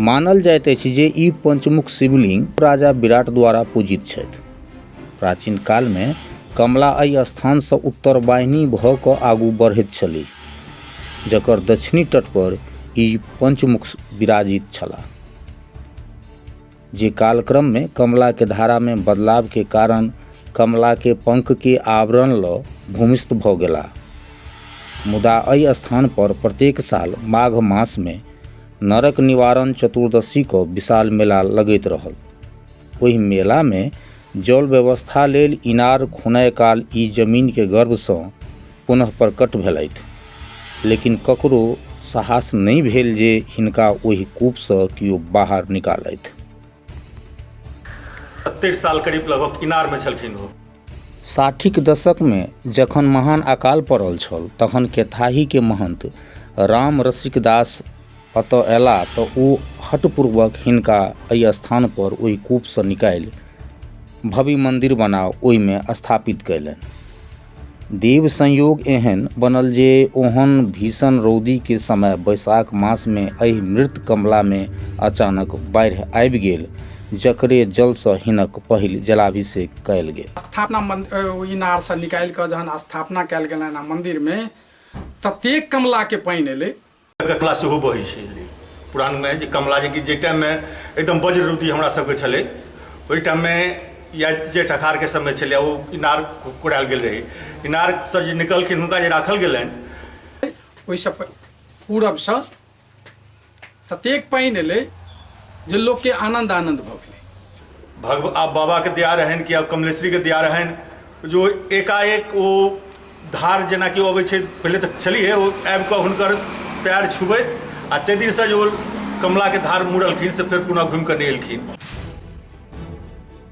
मानल जाइत अछि जे ई पंचमुख शिवलिंग राजा विराट द्वारा पूजित छथि। प्राचीन काल मे कमला अहि स्थान सँ उत्तरवाहिनी भ क आगू बढ़ैत छलीह, जकर दक्षिणी तट पर ई पंचमुख विराजित छलाह, जे कालक्रम मे कमला के धारा मे बदलाव के कारण कमला के पंख के आवरण ल भूमिस्थ भ गेलाह। मुदा अहि स्थान पर प्रत्येक साल माघ मास मे नरक निवारण चतुर्दशी को विशाल मेला लगैत रहल ओहि मेला में जल व्यवस्था लेल इनार खुनय काल ई जमीन के गर्भ से पुनः प्रकट भेलथि लेकिन ककरो साहस नहीं भेल जे हिनका ओहि कूप से कियो बाहर निकालथि साल करीब लगभग इनार में छलखिन ओ साठिक दशकमे जखन महान अकाल पड़ल छल तखन केथाहीके महन्त राम रसिक दास एतऽ अयला तऽ ओ हटपूर्वक हिनका एहि स्थान पर ओहि कूपसँ निकालि भव्य मन्दिर बना ओहिमे स्थापित कयलनि देव संयोग एहन बनल जे ओहन भीषण रौदीके समय बैसाख मासमे एहि मृत कमलामे अचानक बाढ़ि आबि गेल जकरे जलसँ हिनक पहिल जलाभिषेक कयल गेल स्थापना मन्द- अ, ओ इनारसँ निकालि कऽ जहन स्थापना कयल गेलनि हँ मन्दिरमे ततेक कमलाके पानि एलै ककला सेहो बहै छै पुरानमे जे कमला जे कि जाहि टाइममे एकदम वज्र रुति हमरा सबके छलै ओहि टाइममे या जेठ अखारके समय छलै ओ इनार कु- कुड़ायल गेल रहै इनारसँ जे निकलखिन हुनका जे राखल गेलनि ओहिसँ प- पूरबसँ ततेक पानि एलै जे लोकके आनन्द आनन्द भऽ गेलै भगव आब बाबाके दया रहनि कि आब कमलेश्वरीके दया रहनि जो एकाएक ओ धार जेनाकि अबै छै पहिले तऽ छलिए ओ आबि कऽ हुनकर पैर छुबैत आ ताहि दिनसँ जे ओ कमलाके धार मुड़लखिन से फेर पुनः घुमि कऽ नहि एलखिन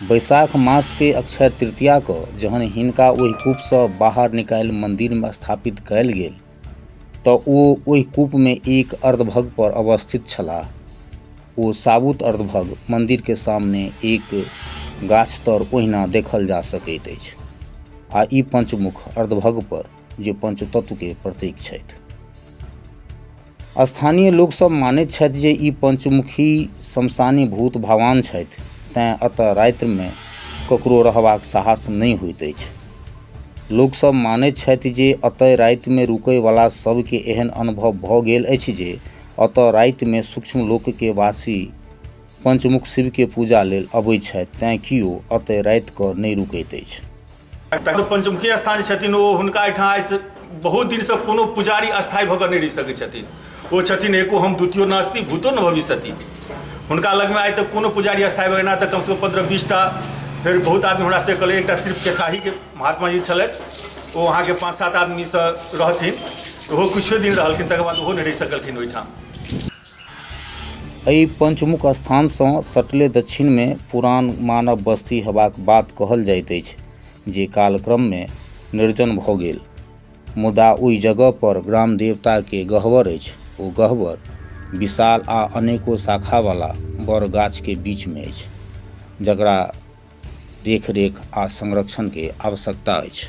बैशाख मास के अक्षय तृतीया क जहन हिनका ओहि कूप स बाहर निकालि मंदिर में स्थापित कयल गेल त ओ ओहि कूप में एक अर्धभग पर अवस्थित छलाह। ओ साबुत अर्धभग मंदिर के सामने एक गाछ तर ओहिना देखल जा सकैत अछि। आ ई पंचमुख अर्धभग पर जे पंचतत्व के प्रतीक छथि। स्थानीय लोकसभ मानैत छथि जे ई पंचमुखी शमशानी भूत भगवान छथि तैँ एतय रातिमे ककरो रहबाक साहस नहि होइत अछि लोकसभ मानैत छथि जे एतय रातिमे रुकयवला सभके एहन अनुभव भऽ गेल अछि जे एतय रातिमे सूक्ष्म लोकके वासी पंचमुख शिवके पूजा लेल अबैत छथि तैँ कियो एतय राति कऽ नहि रुकैत अछि पंचमुखी स्थान छथिन ओ हुनका एहिठाम आइसँ बहुत दिनसँ कोनो पुजारी स्थायी भऽ कऽ नहि रहि सकैत छथिन ओ छथिन एको हम द्वितीय नास्ति भूतो न भविष्यति हुनका लगमे आइ तक कोनो पुजारी स्थायी भऽ एना तऽ कमसँ कम पन्द्रह बीसटा फेर बहुत आदमी हमरा से कहलै एकटा सिर्फ केताहीके महात्मा जी छलथि ओ अहाँके पाँच सात आदमीसँ रहथिन ओहो किछुए दिन रहलखिन तकर बाद ओहो नहि रहि सकलखिन ओहिठाम एहि पंचमुख स्थानसँ सटले दक्षिणमे पुरान मानव बस्ती हेबाक बात कहल जाइत अछि जे कालक्रममे निर्जन भऽ गेल मुदा ओहि जगह पर ग्राम देवताके गहवर अछि ओ गहवर विशाल आ अनेको शाखावाला बड़ गाछके बीचमे अछि जकरा देखरेख आ संरक्षणके आवश्यकता अछि